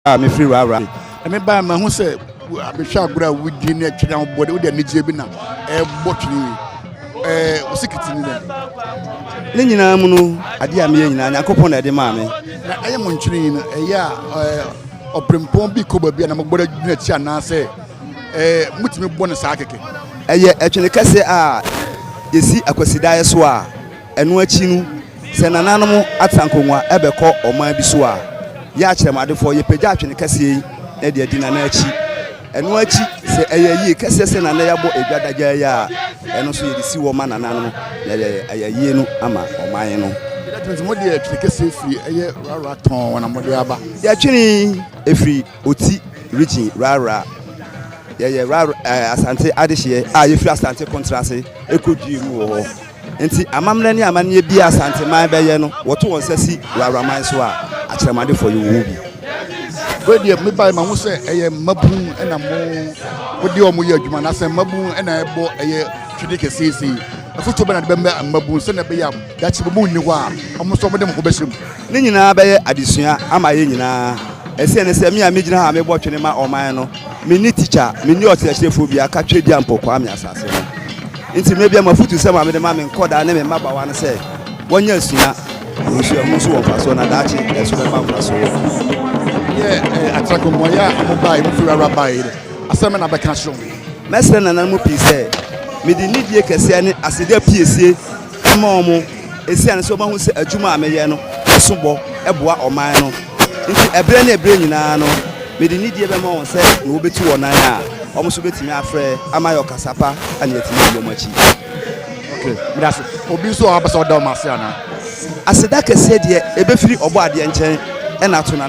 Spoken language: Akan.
a mefiri Rara. Ɛme baa mahu sɛ mehwɛ agorɔ a wodi ne ɛtwene a wobɔ de wode anigyeɛ bi na ɛbɔ twene yi ɛɛ wosikiti ne dɛ. Ne nyinaa mu no adeɛ a meyɛ nyinaa Nyankopɔn na ɛde maa me. Na ɛyɛ mo ntwene yi no ɛyɛ a ɛɛ ɔpempɔn bi kɔ baabi a na mogbɔ de adwene akyi anaasɛ ɛɛ motumi bɔ ne saa kɛkɛ. Ɛyɛ ɛtwene kɛseɛ a yɛsi akwasidaeɛ so a. Ɛno akyi no, sɛ nananom atra nkongua bɛkɔ ɔman bi so a, yɛ akyerɛmadefoɔ yɛpagya atwene kɛseɛ yi na de adi nana akyi. Ɛno akyi, sɛ ɛyɛ yie kɛseɛ sɛ nana yi abɔ adwa dagyaa yi a, ɛno nso yɛde si hɔ ma nana no na yɛyɛ ayayie no ama ɔman no. Yɛbɛtwene nti mode ɛtwene kɛseɛ firi ɛyɛ rara tɔn wɔn a mode aba? Yɛtwene ɛfiri Oti Region rara. Yɛyɛ rara ɛɛ Asante adehyeɛ a yɛfiri Asante Kontrase ɛkɔdue mu wɔ hɔ. Nti amammerɛ ne amanneɛ biara Asanteman bɛyɛ no, wɔto wɔn nsa si wɔ Auraman so a, akyerɛmadefoɔ yi wɔwɔ bi. Wei deɛ mebaeɛ mahu sɛ ɛyɛ mmabunu na mo wode wɔn yɛ adwuma anaasɛ mmabunu na ɛbɔ ɛyɛ twene kɛseɛ yi sei. Afotuo bɛn na de bɛma mmabunu sɛdeɛ ɛbɛyɛ a daakye mmabunu nni hɔ a wɔn nso wɔde wɔn ho bɛhyɛ mu? Ne nyinaa bɛyɛ adesua ama yɛn nyinaa. Ɛseɛ ne sɛ me a megyina ha a mebɔ twene ma ɔman no, menni tikya, menni ɔkyerɛkyerɛfoɔ biara ka Twedeampɔ Kwame asase ho. Enti mmere bi a m'afotusɛm a mede ma me nkwadaa ne me mmabaawa ne sɛ wɔnyɛ asua wɔ nsu a ɛho nso wɔ mfaso na daakye ɛso bɛba mfaso no. Yɛ akyerɛko, Mmuae a wɔbae, wɔfi wurawa bae no, asɛm bɛn na bɛka kyerɛ wɔn? Mɛsrɛ nananom pii sɛ mede nidie kɛseɛ ne aseda piesie ma wɔn esiane sɛ wɔahu sɛ adwuma a meyɛ no so bɔ boa ɔman no nti. Ɛberɛ ne ɛberɛ nyinaa no, mede nidie bɛma wɔn sɛ ne wɔbɛtu wɔn nan a, wɔn nso bɛtumi afrɛ ama ayɛ ɔkasa pa a ne yɛatumi adi wɔn akyi. Okay, meda ase. Obi nso wɔ hɔ a wopɛ sɛ ɔda wɔn ase anaa? Aseda kɛseɛ deɛ ɛbɛfiri Ɔbɔadeɛ nkyɛn na ato Nana.